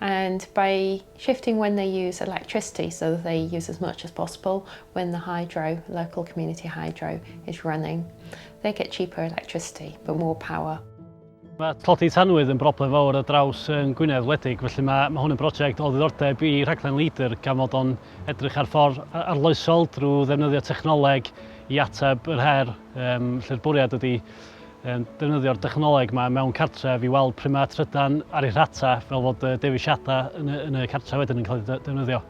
And by shifting when they use electricity so that they use as much as possible when the hydro, local community hydro, is running, they get cheaper electricity but more power. Mae tlodi tanwydd yn broblem fawr ar draws yn Gwynedd wledig, felly mae, mae hwn yn brosiect o ddiddordeb i rhaglen Leader gan fod o'n edrych ar ffordd arloesol drwy ddefnyddio technoleg i ateb yr her. um, lle'r bwriad ydy um, defnyddio'r dechnoleg yma mewn cartref i weld pryd mae trydan ar ei rhata fel fod uh, dewisiadau yn y, yn y cartref wedyn yn cael ei defnyddio.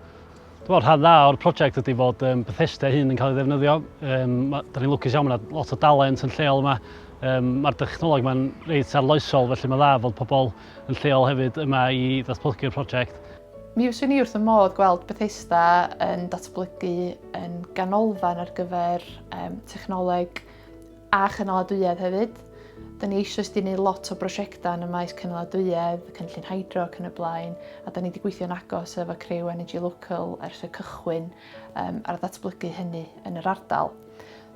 Dwi'n meddwl rhan dda o'r prosiect ydy fod um, Bethesda hyn yn cael ei ddefnyddio. Um, da ni'n lwcus iawn, mae lot o dalent yn lleol yma. Um, Mae'r dechnoleg yma'n reit arloesol, felly mae dda fod pobl yn lleol hefyd yma i ddatblygu'r prosiect. Mi fyswn i wrth fy modd gweld Bethesda yn datblygu yn ganolfan ar gyfer um, technoleg a chynaladwyedd hefyd. Da ni eisiau wedi gwneud lot o brosiectau yn y maes cynaladwyedd, cynllun hydro ac yn y blaen, a da ni wedi gweithio'n agos efo Crew Energy Local ers y cychwyn um, ar ddatblygu hynny yn yr ardal.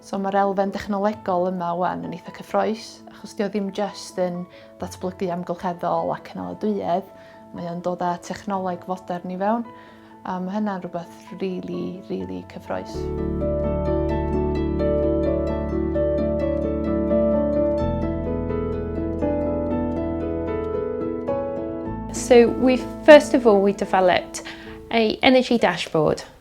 So mae'r elfen dechnolegol yma wan yn eitha cyffroes, achos dio ddim just yn datblygu amgylcheddol ac cynaladwyedd, mae o'n dod â technoleg fodern i fewn, a mae hynna'n rhywbeth really, really cyffroes. So we first of all we developed a energy dashboard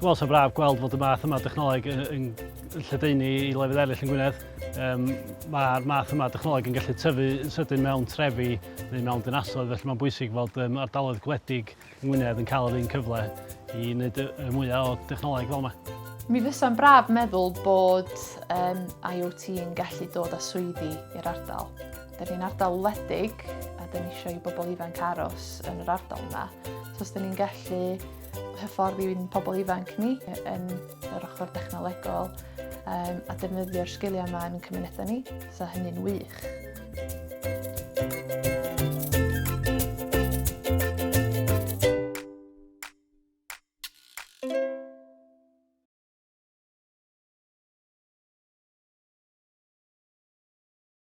Dwi'n meddwl sy'n braf gweld fod y math yma dechnoleg yn, yn, yn lledaenu i lefydd eraill yn Gwynedd. Um, Mae'r math yma dechnoleg yn gallu tyfu yn sydyn mewn trefi neu mewn dinasoedd, felly mae'n bwysig fod um, ardaloedd gwledig yn Gwynedd yn cael yr un cyfle i wneud y, y mwyaf o dechnoleg fel yma. Mi fysa'n braf meddwl bod um, IoT yn gallu dod â swyddi i'r ardal. Da ni'n ardal wledig a da ni eisiau i bobl ifanc aros yn yr ardal yma. So os da ni'n gallu hyfforddi i'n pobl ifanc ni yn yr ochr dechnolegol um, a defnyddio'r sgiliau yma yn cymunedau ni, so hynny'n wych.